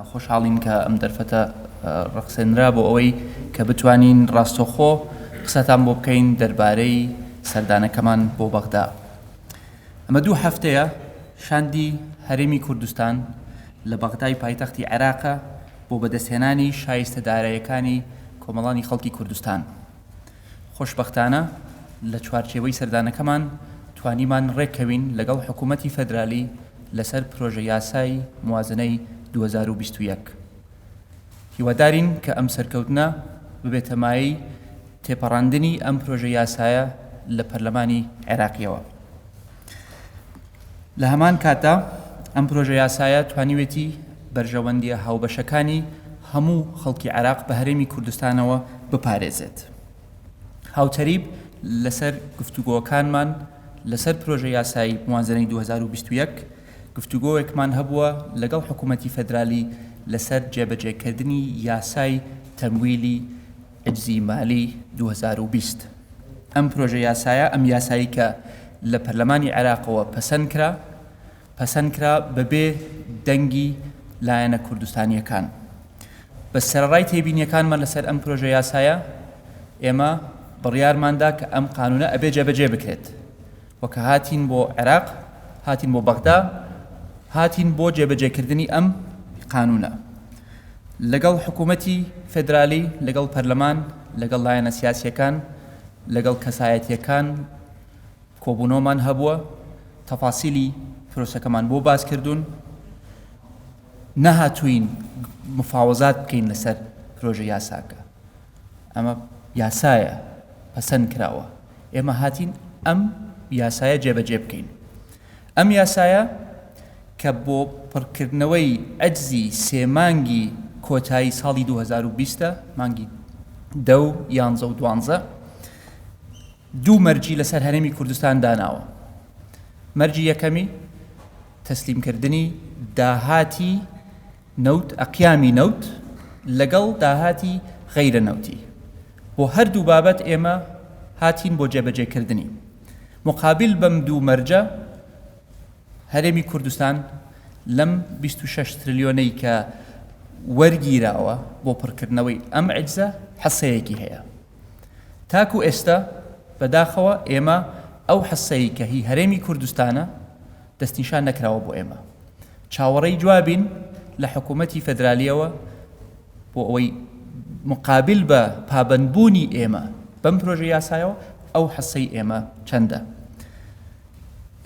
خۆشحاڵین کە ئەم دەرفەتە ڕەخسێنرا بۆ ئەوەی کە بتوانین ڕاستەوخۆ قسەتان بۆ بکەین دەربارەی سەردانەکەمان بۆ بەغدا. ئەمە دوو هەفتەیە شاندی هەرێمی کوردستان لە بەغدای پایتەختی عێراقە بۆ بەدەستهێنانی شایستە دارایەکانی کۆمەڵانی خەڵکی کوردستان. خۆشبەختانە لە چوارچێوەی سەردانەکەمان توانیمان رێککەوین لەگەڵ حکوومەتی فێدرالی لەسەر پرۆژەیاسای موازنەی دوو هەزار و بیست و یەک. هیوادارین کە ئەم سەرکەوتنە ببێتە مایەی تێپەڕاندنی ئەم پرۆژەیاسایە لە پەرلەمانی عێراقییەوە. لە هەمان کاتدا ئەم پرۆژە یاسایە توانیوێتی بەرژەوەندیە هاوبەشەکانی هەموو خەڵکی عێراق بە هەرێمی کوردستانەوە بپارێزێت هاوتەریب لەسەر گفتوگۆکانمان لەسەر پرۆژە یاسایی موازنەی 2021 گفتوگۆیەکمان هەبووە لەگەڵ حکوومەتتی فەدرالی لەسەر جێبەجێکردنی یاسای تەمویلی ئەجزی مالی دوو هەزار و بیست ئەم پرۆژە یاسایە، ئەم یاسایی کە لە پەرلەمانی عێراقەوە پەسەند کرا، پەسەند کرا بەبێ دەنگی لایەنە کوردستانییەکان. بەس سەرەڕای تێبینییەکانمان لەسەر ئەم پرۆژە یاسایە، ئێمە بڕیارمان دا کە ئەم قانوونە ئەبێ جێبەجێ بکرێت. و کە هاتین بۆ عێراق هاتین بۆ بەغدا هاتین بۆ جێبەجێکردنی ئەم قانوونە لەگەڵ حکوومەتی فدرالی لەگەڵ پەرلەمان لەگەڵ لایەنە سیاسیەکان لەگەڵ کەسایەتیەکان کۆبوونەوەمان هەبووە تەفاسیلی پرۆسەکەمان بۆ باس کردوون نەهاتوین مفاوەزات بکەین لەسەر پرۆژە یاساکە ئەمە یاسایە پەسەند کراوە ئێمە هاتین ئەم یاسایە جێبەجێ بکەین ئەم یاسایە کە بۆ پڕکردنەوەی ئەجزی سێ مانگی کۆتایی ساڵی 2020 مانگی دە و یانزە و دوانزە دوو مەرجی لەسەر هەرێمی کوردستان داناوە مەرجی یەکەمی تەسلیمکردنی داهاتی نەوت، ئەقیامی نەوت لەگەڵ داهاتی غەیرە نەوتی، بۆ هەردوو بابەت ئێمە هاتین بۆ جێبەجێ کردنی. موقابیل بەم دوو مەرجە هەرێمی کوردستان لەم بیست و شەش ترلیۆنەی کە وەرگیراوە بۆ پڕکردنەوەی ئەم عیجزە حسەیەکی هەیە. تاکو ئێستا بەداخەوە ئێمە ئەو حسەی کە هی هەرێمی کوردستانە، دەستنیشان نەکراوە بۆ ئێمە چاوەڕێی جوابین لە حکوومەتی فەدرالیەوە بۆ ئەوەی مقابل بە پابندبوونی ئێمە بەم پرۆژە یاسایەوە ئەو حەسەی ئێمە چەندە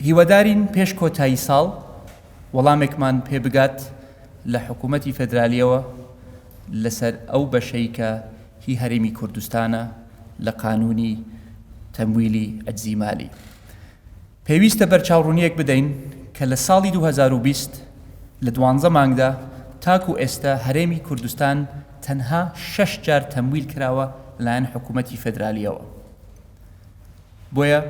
هیوادارین پێش کۆتایی ساڵ وەڵامێکمان پێ بگات لە حکوومەتی فەدرالیەوە لەسەر ئەو بەشەی کە هی هەرێمی کوردستانە لە قانونی تەمویلی ئەجزیمالی پێویستە بەرچاوڕوونییەک بدەین کە لە ساڵی دوو هەزار و بیست لە دوانزە مانگدا تاکوو ئێستا هەرێمی کوردستان تەنها شەش جار تەمویل کراوە لەلایەن حکوومەتی فێدرالییەوە بۆیە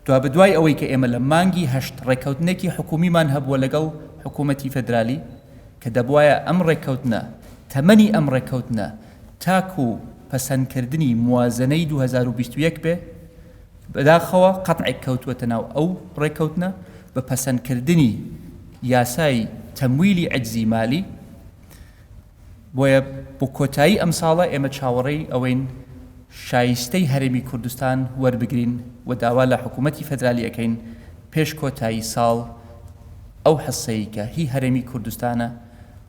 دوابەدوای ئەوەی کە ئێمە لە مانگی هەشت ڕێککەوتنێکی حکوومیمان هەبووە لەگەڵ حکوومەتی فێدرالی کە دەبوایە ئەم ڕێککەوتنە تەمەنی ئەم ڕێککەوتنە تاکوو پەسەندکردنی موازەنەی دوو هەزار و بیست و یەک بێ بەداخەوە قەتعێک کەوتووەتە ناو ئەو ڕێککەوتنە بە پەسەندکردنی یاسای تەمویلی عەجزی مالی، بۆیە بۆ کۆتایی ئەمساڵە ئێمە چاوەڕێی ئەوەین شایستەی هەرێمی کوردستان وەربگرین و داوا لە حکوومەتی فەدرالی ئەکەین پێش کۆتایی ساڵ ئەو حسەی کە هی هەرێمی کوردستانە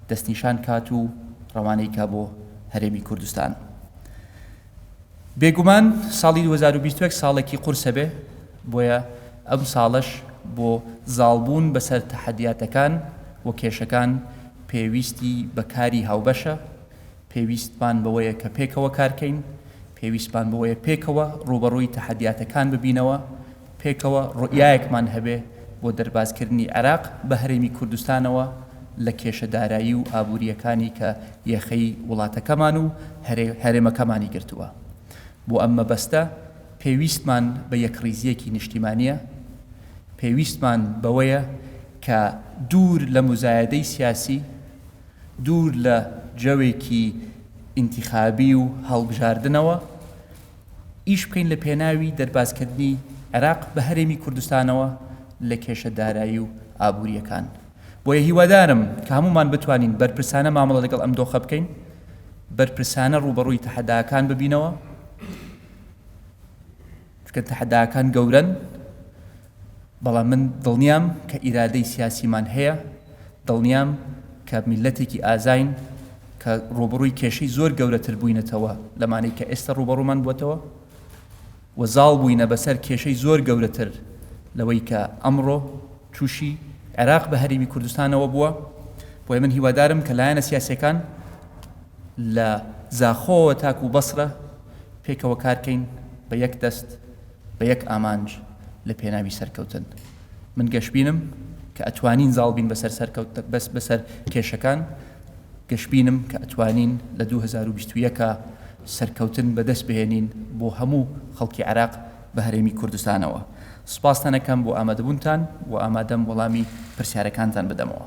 دەستنیشان کات و ڕەوانەی کا بۆ هەرێمی کوردستان. بێگومان ساڵی دوو هەزار و بیست و یەک ساڵێکی قورسە بێ بۆیە ئەم ساڵەش بۆ زاڵبوون بەسەر تەحەدیاتەکان و کێشەکان پێویستی بە کاری هاوبەشە، پێویستمان بەوەیە کە پێکەوە کارکەین، پێویستمان بەوەیە پێکەوە ڕووبەڕووی تەحەدیاتەکان ببینەوە، پێکەوە ڕوئیایەکمان هەبێ بۆ دەربازکردنی عێراق بە هەرێمی کوردستانەوە لە کێشە دارایی و ئابوورییەکانی کە یەخەی وڵاتەکەمان و هەرێمەکەمانی گرتووە. بۆ ئەم مەبەستە پێویستمان بە یەکڕیزییەکی نیشتیمانییە. پێویستمان بەوەیە کە دوور لە موزایەدەی سیاسی، دوور لە جەوێکی ئینتیخابی و هەڵبژاردنەوە، ئیش بکەین لە پێناوی دەربازکردنی عێراق بە هەرێمی کوردستانەوە لە کێشە دارایی و ئابوورییەکان. بۆیە هیوادارم کە هەموومان بتوانین بەرپرسانە مامەڵە لەگەڵ ئەم دۆخە بکەین، بەرپرسانە ڕووبەڕووی تەحەداکان ببینەوە، چونکە تەحەداکان گەورەن، بەڵام من دڵنیام کە ئیرادەی سیاسیمان هەیە، دڵنیام کە میللەتێکی ئازاین کە ڕووبەڕووی کێشەی زۆر گەورەتر بووینەتەوە لەمانەی کە ئێستا ڕووبەڕوومان بووەتەوە و زاڵ بووینە بەسەر کێشەی زۆر گەورەتر لەوەی کە ئەمڕۆ تووشی عێراق بە هەرێمی کوردستانەوە بووە، بۆیە من هیوادارم کە لایەنە سیاسییەکان لە زاخۆوە تاکوو بەسرە پێکەوە کار کەین بە یەک دەست، بە یەک ئامانج لە پێناوی سەرکەوتن. من گەشبینم کە ئەتوانین زاڵ بین بەسەر سەرکەوت بەس بەسەر کێشەکان گەشبینم کە ئەتوانین لە دوو هەزار و بیست و یەک سەرکەوتن بە دەست بهێنین بۆ هەموو خەڵکی عێراق بە هەرێمی کوردستانەوە. سپاستان ئەکەم بۆ ئامادەبوونتان و ئامادەم وەڵامی پرسیارەکانتان بدەمەوە.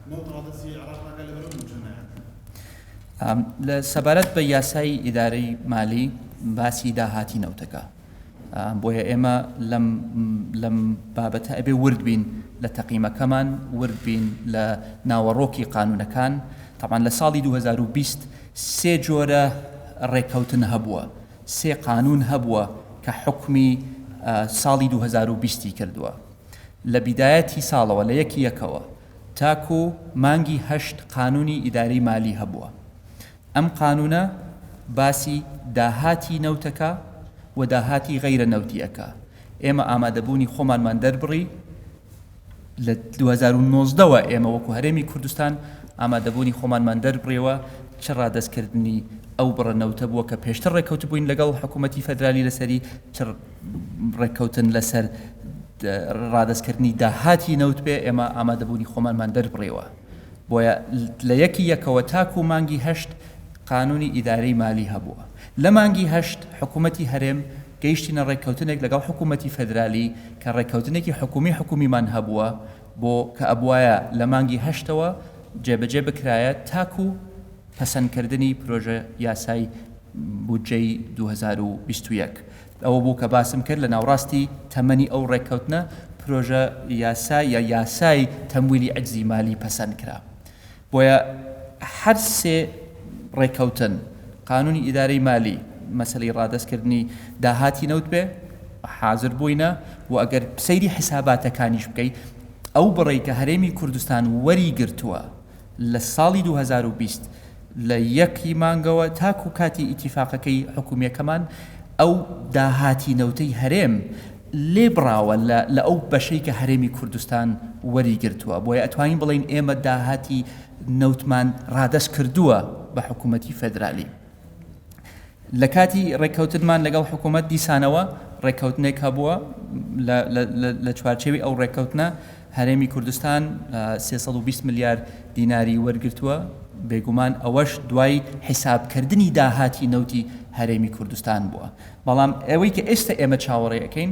سەبارەت بە یاسای ئیدارەی مالی باسی داهاتی نەوتەکە بۆیە ئێمە لەم بابەتە ئەبێ ورد بین لە تەقیمەکەمان ورد بین لە ناوەڕۆکی قانونەکان تاوان لە ساڵی 2020 سێ جۆرە ڕێککەوتن هەبووە سێ قانون هەبووە کە حکمی ساڵی 2020 کردووە لە بیدایەتی ساڵەوە لە یەکی یەکەوە تاکو مانگی هەشت قانونی ئیداری مالی هەبووە، ئەم قانونە باسی داهاتی نەوتەکە و داهاتی غەیرە نەوتی ئەکا، ئێمە ئامادەبوونی خۆمانمان دەربڕی لە دوو هەزار و نۆزدە وە ئێمە وەکو هەرێمی کوردستان ئامادەبوونی خۆمانمان دەربڕیوە چ ڕادەستکردنی ئەو بڕە نەوتە بووە کە پێشتر ڕێکەوتبووین لەگەڵ حکومەتی فەدرالی لەسەری چ ڕێککەوتن لەسەر ڕادەستکردنی داهاتی نەوت بێ، ئێمە ئامادەبوونی خۆمانمان دەربڕیوە، بۆیە لە یەکی یەکەوە تاکوو مانگی هەشت قانوونی ئیدارەی مالی هەبووە. لە مانگی هەشت حکوومەتی هەرێم گەیشتینە ڕێککەوتنێک لەگەڵ حکوومەتی فێدرالی کە ڕێککەوتنێکی حکوومی حکوومیمان هەبووە بۆ کە ئەبوایە لە مانگی هەشتەوە جێبەجێ بکرایە تاکوو پەسەندکردنی پرۆژە یاسای بودجەی دوو هەزار و بیست و یەک. ئەوە بوو کە باسم کرد لە ناوڕاستی تەمەنی ئەو ڕێککەوتنە پرۆژە یاسا یا یاسای تەمویلی عەجزی مالی پەسەند کرا. بۆیە هەر سێ ڕێککەوتن، قانونی ئیدارەی مالی، مەسەلەی ڕادەستکردنی داهاتی نەوت بێ، حازر بووینە و ئەگەر سەیری حیساباتەکانیش بکەی ئەو بڕەی کە هەرێمی کوردستان وەریگرتووە، لە ساڵی دوو هەزار و بیست لە یەک ی مانگەوە تاکو کاتی ئیتیفاقەکەی حکومیەکەمان ئەو داهاتی نەوتەی هەرێم لێ بڕاوە لە لە ئەو بەشەی کە هەرێمی کوردستان وەری گرتوە بۆیە ئەتوانین بڵێین ئێمە داهاتی نەوتمان ڕادەست کردوە بە حکومەتی فێدرالی. لە کاتی ڕێککەوتنمان لەگەڵ حکوومەت دیسانەوە ڕێککەوتنێک هەبووە لە چوارچەوی ئەو ڕێککەوتنە هەرێمی کوردستان 320 ملیار دیناری وەرگتووە بێگومان ئەوەش دوای حیسابکردنی داهاتی نەوتی هەرێمی کوردستان بووە بەڵام ئەوەی کە ئێستا ئێمە چاوەڕێەکەین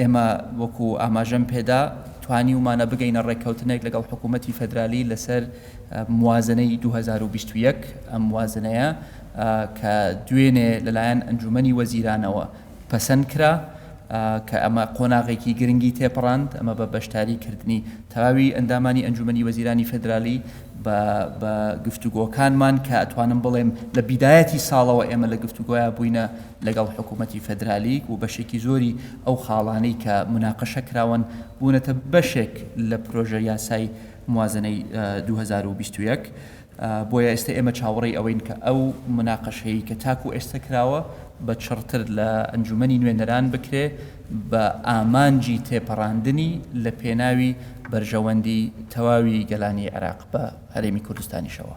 ئێمە وەکو ئاماژەم پێدا توانیومانە بگەینە ڕێککەوتنێک لەگەڵ حکوومەتی فەدرالی لەسەر موازنەی 2021 ئەم موازنەیە کە دوێنێ لەلایەن ئەنجومنی وەزیرانەوە پەسەند کرا کە ئەمە قۆناغێکی گرنگی تێپەڕاند ئەمە بە بەشداری کردنی تەواوی ئەندامانی ئەنجومنی وەزیرانی فدرالی بە گفتوگۆکانمان کە ئەتوانم بڵێم لە بیدایەتی ساڵەوە ئێمە لە گفتوگوۆیا بووینە لەگەڵ حکوومەتی فێدرالیک و بەشێکی زۆری ئەو خاڵانەی کە موناقەشە کراون بوونەتە بەشێک لە پرۆژە یاسای موازنەی دوو هەزار و بیست و یەک بۆیە ئێستا ئێمە چاوەڕێی ئەوەین کە ئەو موناقەشەیی کە تاکو ئێستا کراوە بە چڕتر لە ئەنجوومەنی نوێنەران بکرێ بە ئامانجی تێپەڕاندنی لە پێناوی بەرژەوەندی تەواوی گەلانی عێراق بە هەرێمی کوردستانیشەوە.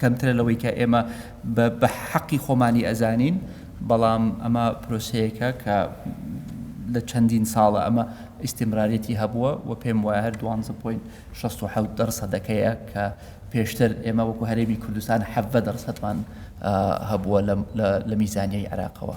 کەمترە لەوەی کە ئێمە بە حەقی خۆمانی ئەزانین، بەڵام ئەمە پرۆسەیەکە کە لە چەندین ساڵە ئەمە ئیستیمرارێتی هەبووە و پێم وایە هەر دوانزە پۆینت شەست و حەوت دەرسەدەکەیە کە پێشتر ئێمە وەکو هەرێمی کوردستان حەڤدە دەرسەدمان هەبووە لە میزانیای عێراقەوە.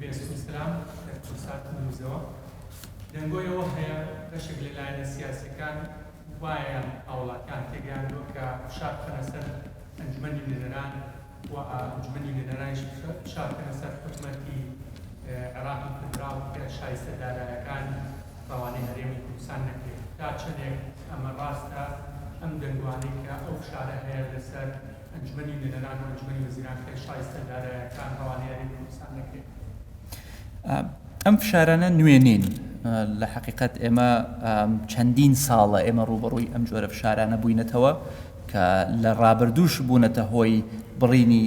بێستون سلام لە کوردستان توندوزەوە دەنگۆی ئەوە هەیە بەشێک لە لایەنە سیاسیەکان وایان هاوڵاتیان تێگەیاندوە کە فشار بخەنە سەر ئەنجومەنی نوێنەران و ئەنجومەنی نوێنەرانیش فشار بخەنە سەر حکومەتی عێراقی فیدراڵ کە شایستە دارایەکان ڕەوانەی هەرێمی کوردستان نەکرێت تا چەندێک ئەمە ڕاستە ئەم دەنگوانەی کە ئەو فشارە هەیە لەسەر ئەنجومەنی نوێنەران و ئەنجومەنی وەزیران خێر شایستە دارایەکان ڕەوانەی هەرێمی کوردستان نەکرێت. ئەم فشارانە نوێ نین لە حقیقت ئێمە چەندین ساڵە ئێمە ڕوبەڕووی ئەم جۆرە فشارانە بووینەتەوە کە لە ڕابردووش بوونەتە هۆی بڕینی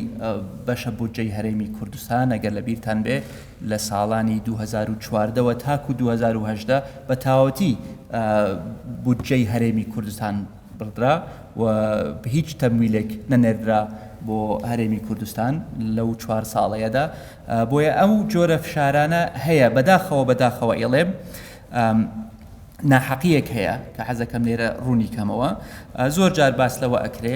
بەشە بودجەی هەرێمی کوردستان ئەگەر لە بیرتان بێ لە ساڵانی 2014ەوە تاکو 2010 بە تاوەتی بودجەی هەرێمی کوردستان بڕدرا و هیچ تەمویلێک نەنێردرا بۆ هەرێمی کوردستان لەو چوار ساڵەیەدا بۆیە ئەو جۆرە فشارانە هەیە بەداخەوە بەداخەوە ئێڵێم ناحەقیەک هەیە کە حەزەکەم لێرە ڕوونی کەمەوە زۆر جار باس لەوە ئەکرێ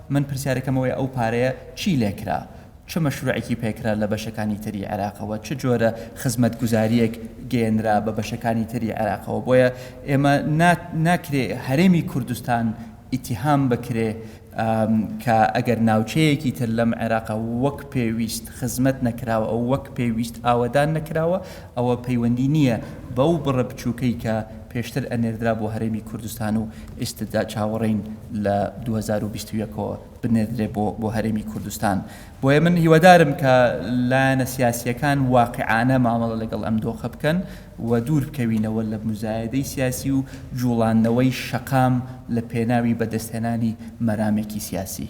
من پرسیارەکەم ئەوەیە ئەو پارەیە چی لێکرا؟ چ مەشروعێکی پێکرا لە بەشەکانی تری عێراقەوە؟ چ جۆرە خزمەتگوزارییەک گەیەنرا بە بەشەکانی تری عێراقەوە؟ بۆیە ئێمە نا ناکرێ هەرێمی کوردستان ئیتیهام بکرێ کە ئەگەر ناوچەیەکی تر لەم عێراقە وەک پێویست خزمەت نەکراوە، وەک پێویست ئاوەدان نەکراوە، ئەوە پەیوەندی نییە بەو بڕە بچووکەی کە پێشتر ئەنێردرا بۆ هەرێمی کوردستان و ئیستدا چاوەڕێین لە دوو هەزار و بیست و یەک ەوە بنێردرێ بۆ بۆ هەرێمی کوردستان بۆیە من هیوادارم کە لایەنە سیاسییەکان واقعانە مامەڵە لەگەڵ ئەم دۆخە بکەن و دوور بکەوینەوە لە موزایەدەی سیاسی و جووڵاندنەوەی شەقام لە پێناوی بەدەستهێنانی مەرامێکی سیاسی.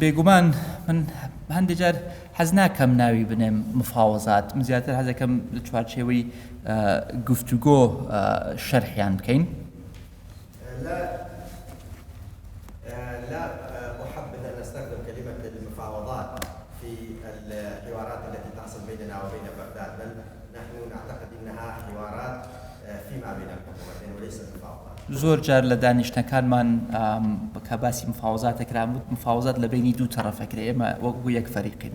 بێگومان من هەندێک جار حەز ناکەم ناوی بنێم مفاوەزات من زیاتر حەزەکەم لە چوارچێوەی گفتوگۆ شەرحیان بکەین زۆر جار لە دانیشتنەکانمان کە باسی مفاوەزات دەکرا وت مفاوەزات لە بەینی دوو تەڕەف ئەکرێ ئێمە وەک بوو یەک فەریقین.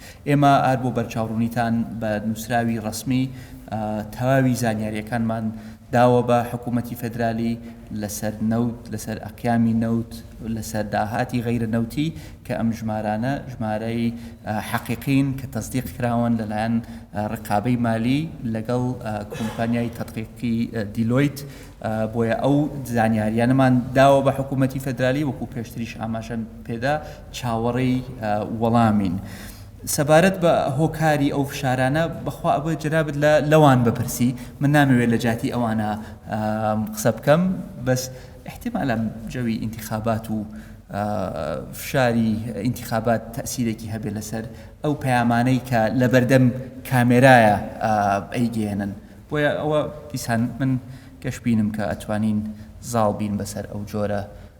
ئێمە ئار بۆ بەرچاوڕوونیتان بە نووسراوی ڕەسمی تەواوی زانیارییەکانمان داوە بە حکوومەتی فێدرالی لەسەر نەوت، لەسەر ئەقیامی نەوت، لەسەر داهاتی غەیرە نەوتی کە ئەم ژمارانە ژمارەی حەقیقین کە تەسدیق کراون لەلایەن ڕقابەی مالی لەگەڵ کۆمپانیای تەدقیقی دیلۆیت بۆیە ئەو زانیاریانەمان داوە بە حکوومەتی فێدرالی وەکوو پێشتریش ئاماژەم پێدا چاوەڕێی وەڵامین سەبارەت بە هۆکاری ئەو فشارانە بەخوا ئەبێ جەنابت لە لەوان بپرسی من نامەوێت لە جاتی ئەوانە قسە بکەم بەس احتمالا جەوی ئینتخابات و فشاری ئینتخابات تەسیرێکی هەبێ لەسەر ئەو پەیامانەی کە لە بەردەم کامێرایە ئەیگەێنن بۆیە ئەوە دیسان من گەشببینم کە ئەتوانین زاڵ بین بەسەر ئەو جۆرە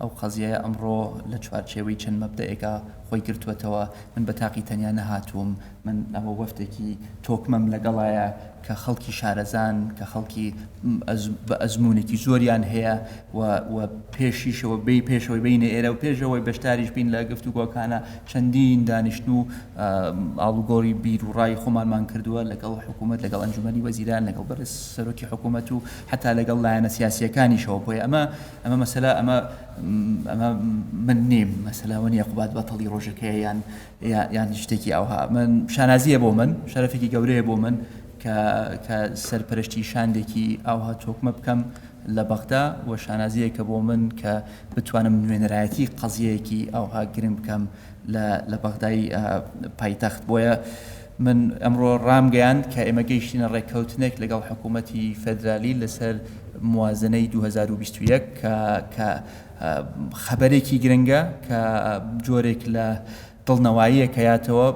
ئەو قەزیەیە ئەمڕۆ لە چوارچێوەی چەند مەبدەئێکا خۆی گرتووەتەوە، من بە تاقی تەنیا نەهاتووم، من ئەوە وەفدێکی تۆکمەم لەگەڵایە کە خەڵکی شارەزان، کە خەڵکی بە ئەزموونێکی زۆریان هەیە و و پێشیشەوە بێی پێشەوەی بینە ئێرە و پێشەوەی بەشداریش بین لە گفتوگۆکانە چەندین دانیشتن و ئاڵوگۆری بیر و ڕای خۆمانمان کردووە لەگەڵ حکوومەت لەگەڵ ئەنجومەنی وەزیران لەگەڵ بەرز سەرۆکی حکوومەت و حتا لەگەڵ لایەنە سیاسیەکانیشەوە بۆیە ئەمە ئەمە مەسەلە ئەمە ئەمە من نیم مەسەلە وە نیە قوباد بەتەڵی ڕۆژەکەی یان یان شتێکی ئەوها من شانازیە بۆ من شەرفێکی گەورەیە بۆ من کە سەرپەرشتی شاندێکی ئاوها تۆکمە بکەم لە بەغدا و شانازیەکە بۆ من کە بتوانم نوێنەرایەتی قەزیەیەکی ئاوها گرنگ بکەم لە بەغدای پایتەخت بۆیە من ئەمڕۆ ڕامگەیاند کە ئێمە گەیشتینە ڕێککەوتنێک لەگەڵ حکوومەتی فێدرالی لەسەر موازنەی دوو هەزار و بیست و یەک کە کە خەبەرێکی گرنگە کە جۆرێک لە دڵنەواییە کە یاتەوە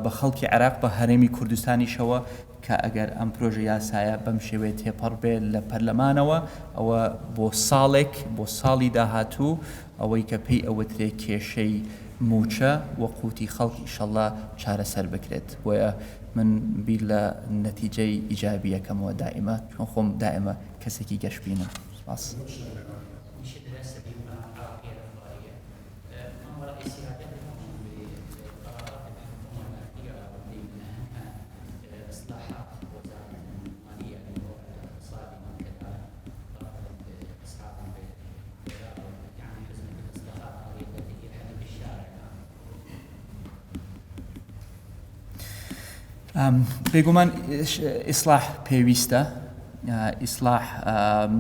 بە خەڵکی عێراق بە هەرێمی کوردستانیشەوە کە ئەگەر ئەم پرۆژە یاسایە بەم شێوەیە تێپەڕ بێت لە پەرلەمانەوە ئەوە بۆ ساڵێک بۆ ساڵی داهاتوو ئەوەی کە پێی ئەوترێ کێشەی مووچە و قووتی خەڵک ئیشەڵڵا چارەسەر بکرێت بۆیە من بیر لە نەتیجەی ئیجابییەکەمەوە دائیمە چون خۆم دائیمە کەسێکی گەشبینم. سپاس. بێگومان ئیسلاح پێویستە ئیسلاح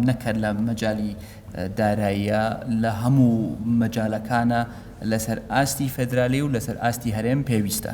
نەکرد لە مەجای داراییە لە هەموو مەجالەکانە لەسەر ئاستی فەدرالی و لەسەر ئاستی هەرێم پێویستە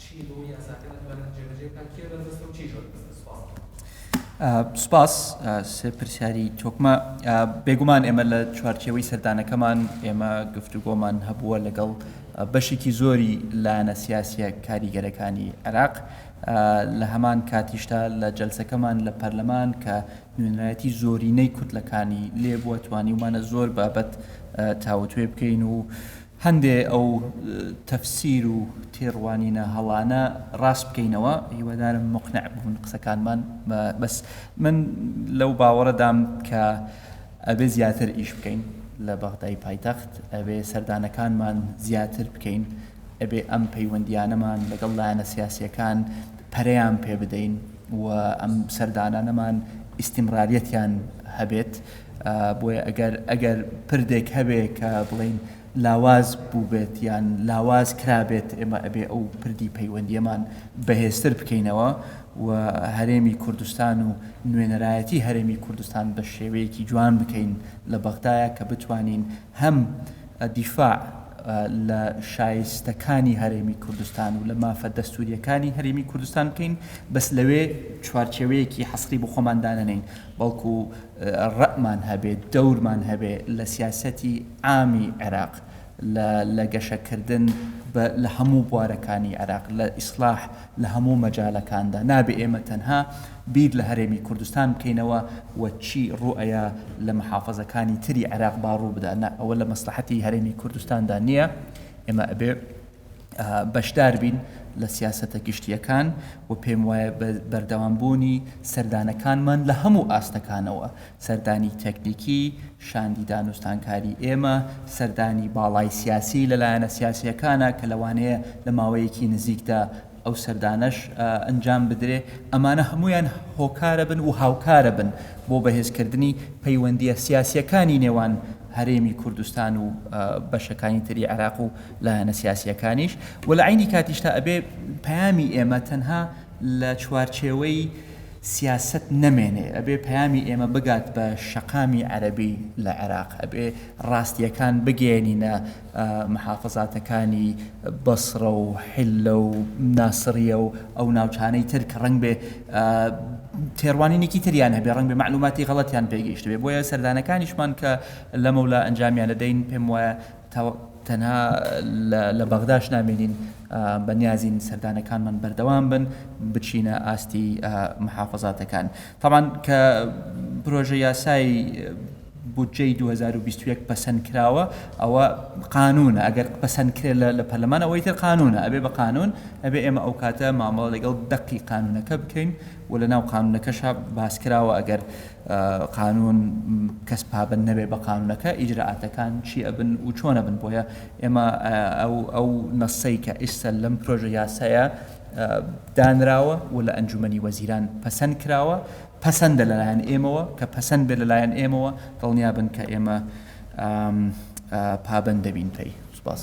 چیە بۆ یاساکە نەتوانین جێبەجێ بکات کێ بەربەستە و چیش بەربەستە سوپاس. سوپاس سێ پرسیاری تۆکمە بێگومان ئێمە لە چوارچێوەی سەردانەکەمان ئێمە گفتوگۆمان هەبووە لەگەڵ بەشێکی زۆری لایەنە سیاسیە کاریگەرەکانی عێراق لە هەمان کاتیشدا لە جلسەکەمان لە پەرلەمان کە نوێنەتی زۆرینەی کوتلەکانی لێبووە توانیومانە زۆر بابەت تاوتوێ بکەین و هەندێ ئەو تەفسیر و تێڕوانینە هەڵانە ڕاست بکەینەوە هیوادارم موقنع بون قسەکانمان بەس من لەو باوەڕەدام کە ئەبێ زیاتر ئیش بکەین لە بەغدای پایتەخت ئەبێ سەردانەکانمان زیاتر بکەین ئەبێ ئەم پەیوەندیانەمان لەگەڵ لایەنە سیاسیەکان پەرەیان پێ بدەین و ئەم سەردانانەمان ئیسیمراریەتیان هەبێت بۆیە ئەگەر ئەگەر پردێک هەبێ کە بڵێین لاواز بووبێت یان لاواز کرابێت ئێمە ئەبێ ئەو پردی پەیوەندیەمان بەهێزتر بکەینەوە و هەرێمی کوردستان و نوێنەرایەتی هەرێمی کوردستان بە شێوەیەکی جوان بکەین لە بەغدایە کە بتوانین هەم دیفاع لە شایستەکانی هەرێمی کوردستان و لە مافە دەستوورییەکانی هەرێمی کوردستان بکەین، بەس لەوێ چوارچێوەیەکی حەسری بۆ خۆمان دانەنێین، بەڵکو ڕەئمان هەبێ، دەورمان هەبێ لە سیاسەتی عامی عێراق لە گەشەکردن لە هەموو بوارەکانی عێراق، لە ئیسلاح، لە هەموو مەجالەکاندا نابێ ئێمە تەنها بیر لە هەرێمی کوردستان بکەینەوە و چی ڕوو ئەیا لە محافەزەکانی تری عێراق با ڕوو بدا نا ئەوە لە مەسلەحەتی هەرێمی کوردستاندا نییە ئێمە ئەبێ بەشدار بین لە سیاسەتە گشتیەکان و پێم وایە بەردەوام بوونی سەردانەکانمان لە هەموو ئاستەکانەوە سەردانی تەکنیکی شاندی دانوستانکاری ئێمە سەردانی باڵای سیاسی لە لایەنە سیاسییەکانە کە لەوانەیە لە ماوەیەکی نزیکدا ئەو سەردانەش ئەنجام بدرێ، ئەمانە هەموویان هۆکارە بن و هاوکارە بن بۆ بەهێزکردنی پەیوەندییە سیاسییەکانی نێوان هەرێمی کوردستان و بەشەکانی تری عێراق و لایەنە سیاسییەکانیش و لە عەینی کاتیشدا ئەبێ پەیامی ئێمە تەنها لە چوارچێوەی سیاسەت نەمێنێ ئەبێ پەیامی ئێمە بگات بە شەقامی عەرەبی لە عێراق ئەبێ ڕاستیەکان بگەیەنینە محافزاتەکانی بەسڕە و حیللە و ناسڕیە و ئەو ناوچانەی تر کە ڕەنگ بێ تێڕوانینێکی تریان هەبێ ڕەنگ بێ معلوماتی غەڵەتیان پێگەیشتبێ بۆیە سەردانەکانیشمان کە لەمەولا ئەنجامیان دەدەین پێم وایە تەنها لە بەغداش نامێنین بە نیازین سەردانەکانمان بەردەوام بن بچینە ئاستی محافەزاتەکان تەبان کە پرۆژە یاسای بودجەی 2021 پەسەند کراوە ئەوە قانونە ئەگەر پەسەند کرێت لە پەرلەمان ئەوەی تر قانونە ئەبێ بە قانون ئەبێ ئێمە ئەو کاتە مامەڵە لەگەڵ دەقی قانونەکە بکەین وە لە ناو قانونەکەشا باس کراوە ئەگەر قانون کەس پابەند نەبێ بە قانونەکە ئیجرائاتەکان چی ئەبن و چۆن ئەبن بۆیە ئێمە ئەو ئەو نەسەی کە ئیستا لەم پرۆژە یاسایە دانراوە و لە ئەنجومەنی وەزیران پەسەند کراوە پەسەندە لەلایەن ئێمەوە کە پەسەند بێ لەلایەن ئێمەوە دڵنیا بن کە ئێمە پابەند دەبین پێی سپاس.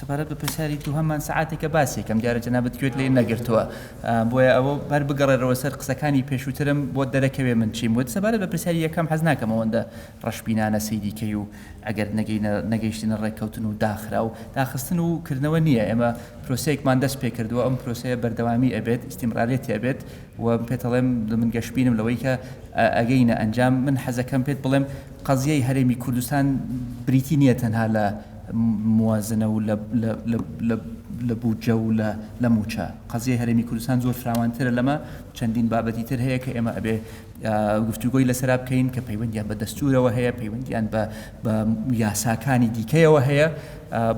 سەبارەت بە پرسیاری دووهەمان سعاتێکە باسێکم دیارە جەنابەت گوێت لێ نەگرتووە بۆیە ئەوە بەر بگەڕێرەوە سەر قسەکانی پێشووترم بۆ دەرەکەوێ من چیم وت سەبارەت بە پرسیاری یەکەم حەز ناکەم ئەوەندە ڕەشبینانە سەیری کەی و ئەگەر نەگەینە نەگەیشتنە ڕێککەوتن و داخرا و داخستن و کردنەوە نییە ئێمە پرۆسەیەکمان دەست پێ کردووە ئەم پرۆسەیە بەردەوامی ئەبێت ئیسیمرارێتی ئەبێت و پێتەڵێم من گەشبینم لەوەی کە ئەگەینە ئەنجام من حەزەکەم پێت بڵێم قەزیەی هەرێمی کوردستان بریتی نییە تەنها لە موازنە و لە بودجە و لە موچە قەزیەی هەرێمی کوردستان زۆر فراوانترە لەمە چەندین بابەتی تر هەیە کە ئێمە ئەبێ گفتوگۆی لەسرا بکەین کە پەیوەندیان بە دەستورەوە هەیە پەیوەندیان بە یاساکانی دیکەیەوە هەیە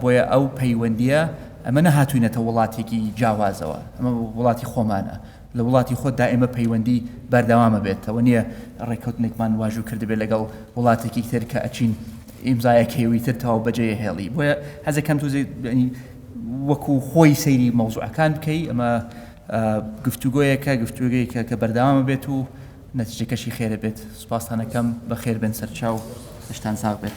بۆیە ئەو پەیوەندیە ئەمە نەهاتوینەتە وڵاتێکی جاوازەوە ئەمە وڵاتی خۆمانە لە وڵاتی خۆت دا ئێمە پەیوەندی بەردەوامە بێت ئەوە نیە ڕێکەوتنێکمان واژو کردبێت لەگەڵ وڵاتێکی تر کە ئەچین ئیمزایەکەی وی تر تەواو بەجێ هێڵی بۆیە حەزەکەم تو وەکو خۆی سەیری مەوزوعەکان بکەی ئەمە گفتوگۆیەکە گفتوگەیەکە کە بەردەوامە بێت و نەتیجەکەشی خێرە بێت سوپاستانەکەم بەخێر بێن سەرچاو شتان ساغ بێت.